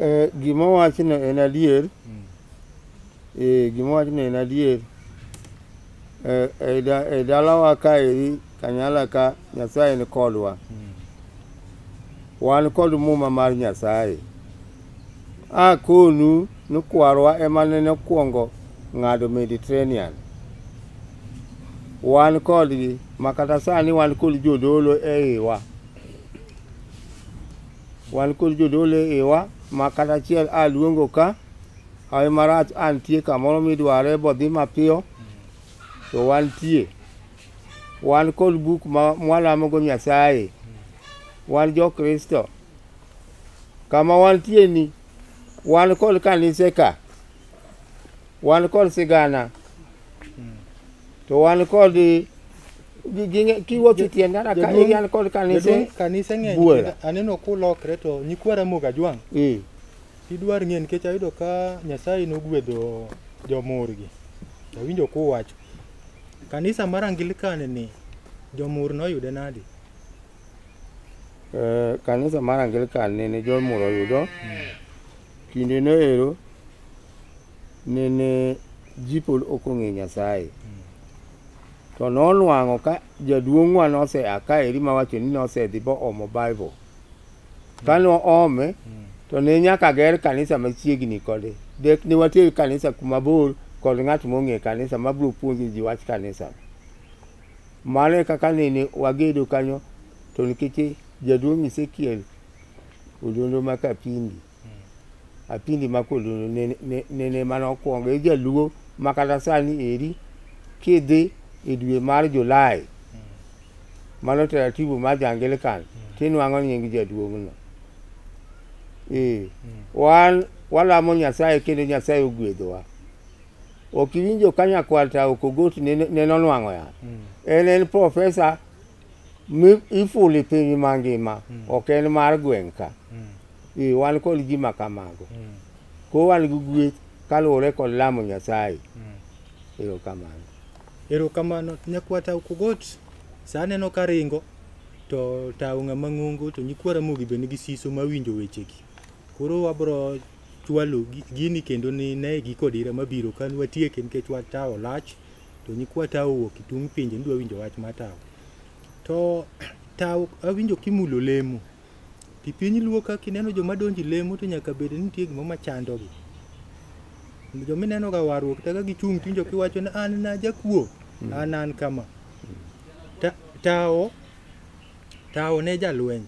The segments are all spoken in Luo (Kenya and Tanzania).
Eh, gima wachno en adier hmm. eh, gima wachno en adier eh, e dalawa ka eri kanyala ka nyasaye ni kodwa hmm. wan kod muma mar nyasaye A konu ni kwarwa ema nene okwongo ng'ado Mediterranean. Wan kodgi ma kata sani wan kod jodolo e iwa. Wan kod jodolo e iwa ma kata achiel a luongo ka hawi marach a nitie kamoro midware bodhi mapiyo to wantie. Wan kod buk ma mwalamogo Nyasaye. Wan jo Kristo. Kama wantie ni wan kod kanise ka, wan kod sigana, to wan kod gi- gi- kiwuotho e tienda ka Jaduong'- igi an kod kanise Jaduong' kanise ng'eny buora. kendo aneno kulokre to nyikwa Ramogi Ajwang' Eh, idwar ng'e nikech ayudo ka Nyasaye nogwedho jomurgi. Awinjo kuwacho. Kanisa mar Angilikan ni jomur noyude nadi? Eh, kanisa mar Anglican nene John Moore oyudo kinde noero nene ji pod ok ong'e Nyasaye to nonwang'o ka jaduong'wa nosea ka eri mawacho ni nosedhi boomo Bible ka noome to ne nyaka ger kanisa machiegni kode dek ne water kanisa kuma bor kod ng'at mong'e kanisa mabiro puonjo ji wach kanisa Mano e kaka nene wagedo kanyo to nikech jaduong' Ezekiel Odondo ma Kapindi, Apindi ma Kodondo nene- ne- nene mana okwongo e jaluo ma kata sani eri kidhi e dwe mar Julai mano taratibu mar Jangilikan tinwang'o nying jaduong'no. Ee, wan walamo Nyasaye kendo Nyasaye ogwedhowa. Ok iwinjo ka nyakwar ta ok ogoti ne nonwang'o yath. Mm. En en profesa ifuli piny mangima mm. ok en mar gweng' ka. Mm. Wan kod gima kamago. Mm. Ko wan gi gweth kaluwore kod lamo Nyasaye. Mm. Erokamano. Erokamano. Nyakwar ta ok ogoti sa aneno ka ringo to tawo ng'ama ng'ongo to nyikwara mogi be nigi siso mawinjo wechegi. Koro wabro chwalo gini kendo ni ne giko dira mabiro ka nwatieke nikech wach tawo lach to nyikwa tawo wuok itung' pinje nidwa winjo wach ma tawo to tawo awinjo kimulo lemo ti piny luo ka kineno joma donji lemo to nyaka bed ni nitie gima machandogi joma ineno ga warruok taka gichung' tinjo kiwacho ni an na jakuo an an kama Ta- tawo tawo ne jalweny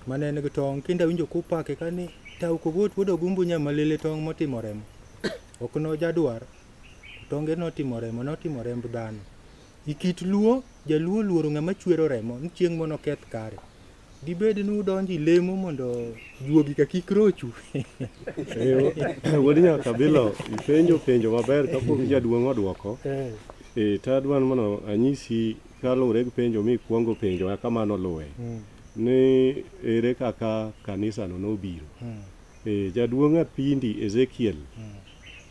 Mane en gi tong' kinde awinjo kupake ka ni tau kogot wuod ogumbu nya malele tong' motimo remo. Ok no jadwar. Tonge notimo remo, notimo remb dhano. E kit Luo, Jaluo luoro ng'ama chwero remo ni chieng' moro noketh kare. Dibed ni udonjo e lemo mondo juogi ka kik rochu. Eh, Wuod Nyakabilo, ipenjo penjo maber kapok jaduong' odwoko. Eh, to adwa ni mondo anyisi Kaluwore gi penjo mikwongo penjo kaka mano luwe ni ere kaka kanisano nobiro. E, jaduong' Apindi Ezekiel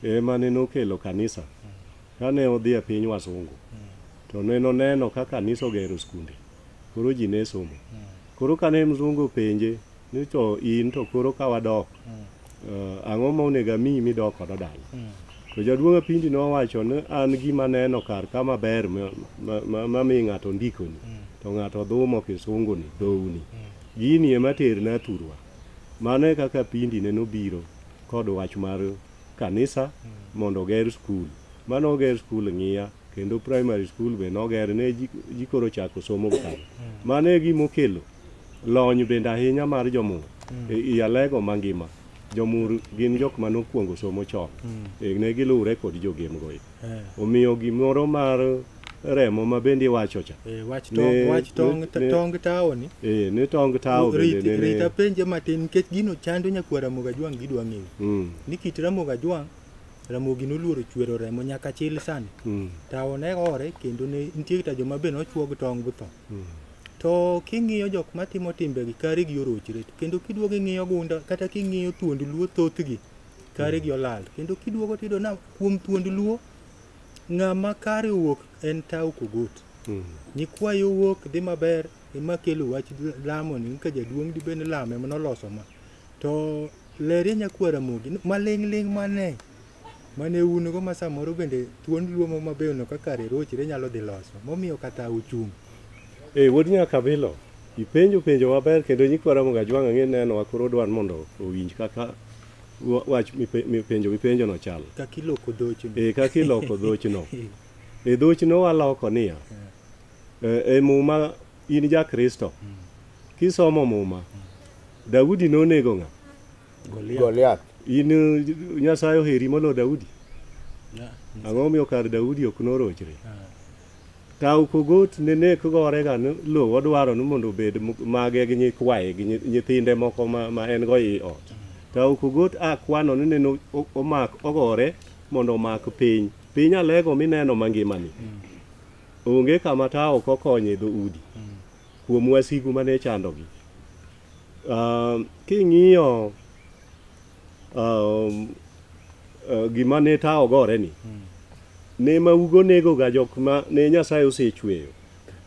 ema ne nokelo kanisa kane odhi e piny wasungu to ne noneno ka kanisa ogero skunde koro ji ne somo koro kane mzungu openje Ni to in to koro ka wadok, mm. uh, ang'o ma onego amiyi midok kodo dala? Mm. To jaduong' Apindi nowacho ni an gima neno kar ka maber ma, ma, ma, ma mi ng'ato ndikoni, mm. to ng'ato dhumo kisunguni, dhouni. Mm. Gini ema terna thurwa. Mano e kaka Apindi ne nobiro kod wach mar kanisa mm. mondo oger skul. Mano oger skul ng'iya kendo primary school be noger ne ji koro chako somo kare. Mm. Mano e gima okelo Lony bende ahinya mar jomur mm. e, i alego mangima jomur gin jok ma nokwongo somo chon mm. e, ne giluwre kod jogemgo e. eh. omiyo gimoro mar remo ma bende iwacho cha e, tong tawo ni e, ne tong tawo rita penje matin nikech gino chando nyakuwa ramoga jwang' gidwa ng'eyo mm. ni kit ramoga jwang' ramogi noluoro chwero remo nyaka chil sani mm. tawo ne ore kendo nitie kata joma be nochuog tong' githo To king'iyo jok matimo timbegi, karigi orochre. To kendo kiduogo ing'iyo gunda, kata king'iyo thuond Luo thothgi, karigi olal. Kendo kiduogo tiyudo na kuom thuond Luo, ng'ama kare owuok en Tau Kogot. Nyikwayo owuok dhi maber, ema kelo wach lamo ni ka jaduong' dibed ni lamo ema noloso ma. To Leria Nyakwa Ramogi, maling' ling' mane mane un go ma samoro bende thuond luo mo mabeyo no kaka rirochre nyalo dhi loso momiyo kata uchung' Eh, wuod Nyakabilo, ipenjo penjo maber kendo nyikwa Ramogi Ajwang' ang'e neno wa koro dwan mondo owinj kaka wa- wach mipe- mipenjo mipenjo no chal. kaka iloko dhocho Eh, kaka iloko dhochno. E dhochno waloko niya. eh, E muma in ja Kristo. Kisomo muma, Daudi nonego ng'a? Goliath. In Nyasaye oheri molo Daudi? Ang'o miyo kar Daudi ok norochre? Tau kogot ne nek gore ga lo odwaro ni mondo obed mage gi nyikwaye gi nyithinde moko ma en go i ot. Tau kogot a kwano ni neno omak ogore mondo omak piny. Piny alego mineno mangimani. Onge kama tao ok okonye dho udi. Kuom wasigu mane chandogi. Um, king'iyo um, uh, gima ne tawo gore ni ne maugo negoga jok ma ne nyasaye osechweyo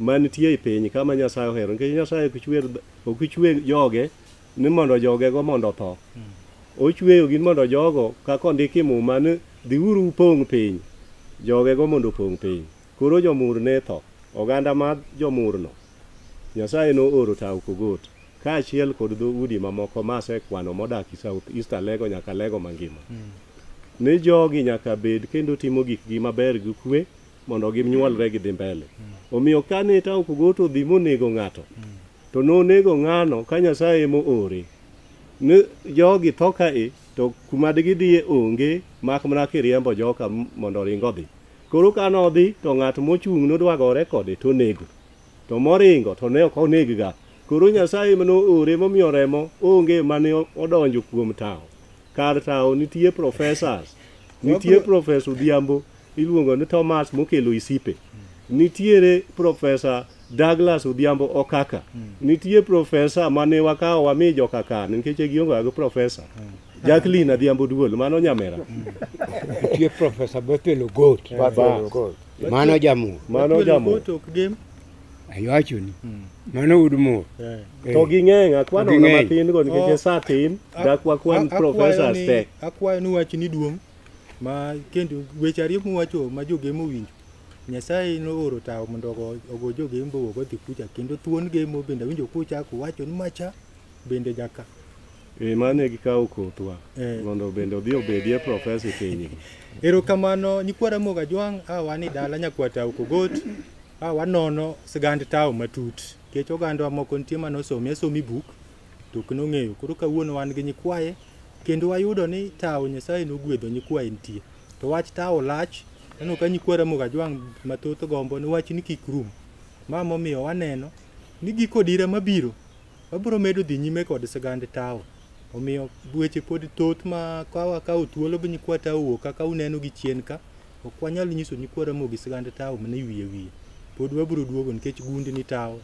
manitie e piny kama nyasaye ohero nikech nyasaye ok chwer ok chwe joge ni mondo jogego mondo otho ochweyogi ni mondo jogo kaka ondiki muma ni dhiuru upong' piny jogego mondo opong' piny koro jomur ne tho oganda ma jomurno Nyasaye nooro tao Kogot kaachiel kod dho udi mamoko ma asekwano modak i South East Alego nyaka Alego mangima. Ni jogi nyaka bed kendo timo gikgi maber gi kwe mondo gimnyuolre gidhi mbele. Omiyo kane tao Kogot odhi monego ng'ato, to nonego ng'ano ka Nyasaye ema oore. Ni jogi tho kae to kuma digidhiye onge mak mana kiriembo joka m- mondo oring odhi. Koro kane odhi to ng'at mochung' nodwa gore kode to onego. to moringo to ne ok onegga. Koro Nyasaye ema noore momiyo remo onge mane odonjo kuom tawo. Kar tawo nitie professors, nitie Profesa Odhiambo iluongo ni Thomas mokelo isipe, nitiere Profesa Douglas Odhiambo Okaka, nitie Profesa mane wakawo wami jokakan nikech ne gionge gi Profesa. Jacqueline Adhiambo Duol mano nyamera. Nitie Profesa Bethel Ogot. Bethel Ogot. Mano jamur. Mano Watuelo jamur. koto ok dem. Ayuachoni. Mano ud mur. Eh. Eh. To ging'eny akwan To ona ging'eny. matin go nikech Oh. e saa tin A- dak wakwan a- akwayo professors ni- te. Akwayo ni wach ni duong' ma kendo weche ariyo muwacho ma jogemo winjo. Nyasaye nooro tawo mondo ogo ogo jogembo ogo dhi kucha kendo thuon gemo bende awinjo kuchako wacho ni macha bende nyaka e mane gikawo kothwa eh. mondo bende odhi obedie profesa e piny erokamano nyikwa ramoga jwang' a wan e dala nyakwa tawo kogot a wanono sigand tawo matut nikech ogandwa moko nitie mane osomi asomi buk to ok nong'eyo koro kawuono wan gi nyikwaye kendo wayudo ni tawo nyasaye nogwedho nyikwaye nitie to wach tawo lach aneno ka nyikwa ramoga jwang' mathoth gombo ni wach ni kik rum ma momiyo waneno ni giko dira mabiro Wabiro medo dhi nyime kod sigand tawo. Omiyo weche pod thoth ma ka wakawo thuolo gi nyikwa tawo kaka uneno gi chien ka, ok wanyal nyiso nyikwa Ramogi sigand tawo mana e wiye wiye. Pod wabiro duogo nikech gundni tawo,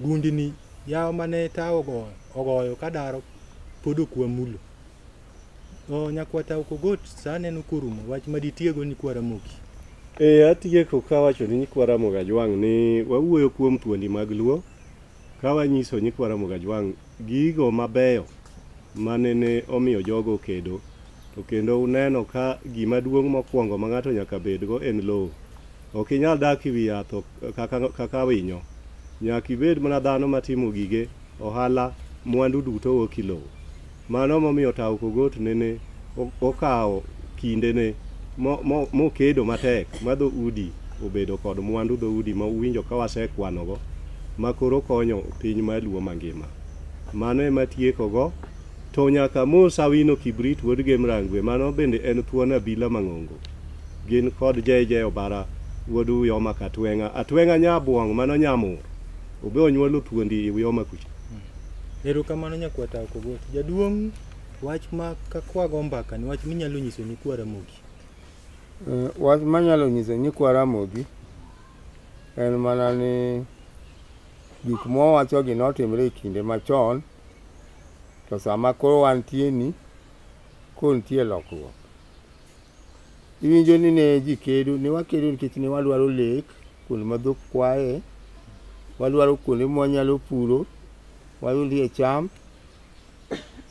gundni yawo mane tawo ogoyo, ogoyo ka daro pod ok wamulo. O, nyakwa tawo Kogot sa aneno korumo, wach ma ditiego nyikwa Ramogi. E, atieko kawacho ni nyikwa Ramogi Ajwang' ni wawuoyo kuom thuondi mag Luo, Ka wanyiso nyikwa Ramogi Ajwang' gigo mabeyo mane ne omiyo jogo okedo, to kendo uneno ka gima duong' mokwongo ma ng'ato nyaka bedgo en lowo. Ok inyal dak e wi yath kaka winyo. Nyaka ibed mana dhano matimo gige ohala, mwandu duto wuok e lowo. Mano momiyo Tau Kogot nene okawo kindene mokedo matek ma dho udi obedo kod mwandu dho udi ma uwinjo ka wasekwanogo ma koro konyo piny mar Luo mangima. Mano ema atiekogo to nyaka mos Awino Kibrit wuod Gemrangwe mano bende en thuon Abila Mang'ongo gin kod JJ Obara wuod Uyoma Katweng'a Atweng'a Nyabwong' mano Nyamur. Obe onyuolo thuondi iwi oma kucha. Erokamano nyakwata Okogot. Jaduong' wach ma ka kwago mbaka ni wach minyalo nyiso ni kwa Ramogi. Eh, Wach manyalo nyiso ni kwa Ramogi en mana ni gik mwawachogi notimre e kinde machon to sama koro wantie ni koro nitie lokruok. Iwinjo ni ne ji kedo, ne wakedo nikech ne wadwaro lek, kuonde ma dhok kwaye, wadwaro kuonde ma wanyalo puro, wayudie cham.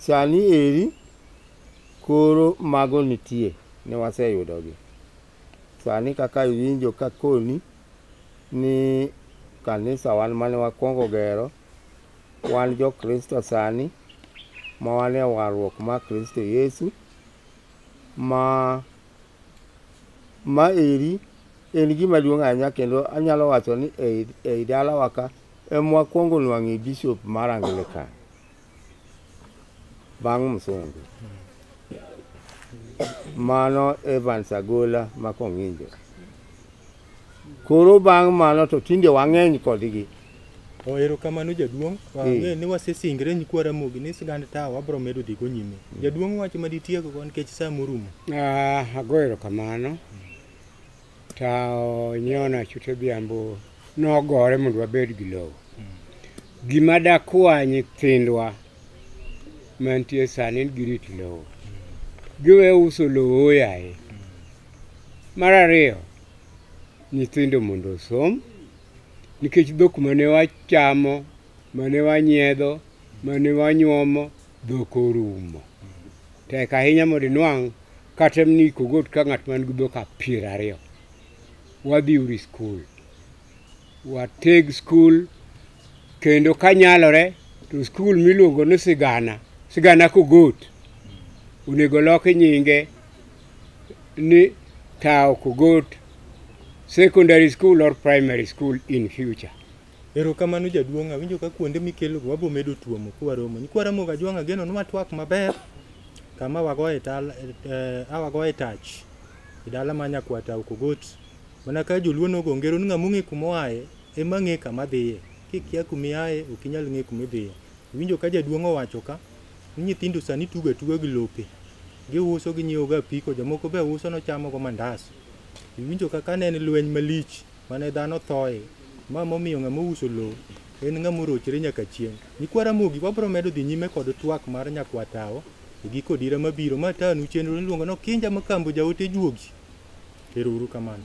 Sani eri koro mago nitie, ne waseyudogi. Sani kaka iwinjo ka akoni ni kanisa wan mane wakwongo gero, wan jo Kristo sani ma wan e warruok mar Kristo Yesu. ma ma eri en gima duong' ahinya kendo anyalo wacho ni ei, ei dalawa ka emwa kwongo nwang'e bishop mar Anglican bang' Msungu. Mano Evans Agola ma Kong'injo. Koro bang' mano to tinde wang'eny kodgi. Oh, erokamano jaduong'. Wang'e eh. ni wasesingre nyikwa Ramogi ni sigand tawa wabiro medo dhigo nyime. Mm. Jaduong' wach ma ditiego go nikech sa morumo. Ah, ago erokamano. Tawo nyona chute biambo nogore mondo wabed gi lowo. Mm. Gima dakwa nyithindwa mantie sani girit lowo. Mm. Giwe uso lowo yaye. Mar ariyo, nyithindo mondo osom nikech dhok mane wachamo, mane wanyiedho, mane wanyuomo, dhok orumo. Tek ahinya mondo inwang' kata ni kogot ka ng'at man gi dhok piero ariyo. Wadhi uru e skul, wateg skul kendo ka nyalore to skul miluongo ni sigana sigana kogot onego loki nyinge ni tawo kogot secondary school or primary school in future Erokamano jaduong', awinjo ka kuonde mikelogo wabo medo tuomo kwaromo. Ni kwaromo ga jwang' ageno nwa twak maber kama wagoye tal eh, awagoye tach e dala ma nyakwata Ukogot. Mana ka joluo nogo ngero ni ng'ama ong'e kuma oaye Ema ng'e kama dhiye. Kikia kuma iaye, ok inyal ng'e kuma idhiye. Iwinjo ka jaduong' owacho ka, ni nyithindo sani tugo atuga gi lope. Giuso ginyiewo go apiko, jomoko be uso ni ochamo go mandas. Iwinjo ka kane en lweny malich mane dhano thoye, ma momiyo ng'ama ouso lowo en ng'ama orochre nyaka chieng'. Nyikwa Ramogi wabiro medo dhi nyime kod twak mar Nyakwa Tawo e giko odira mabiro. Ma atanu chenro niluongo ni Okinja Makambo Jaote Juogi. Ero uru kamano.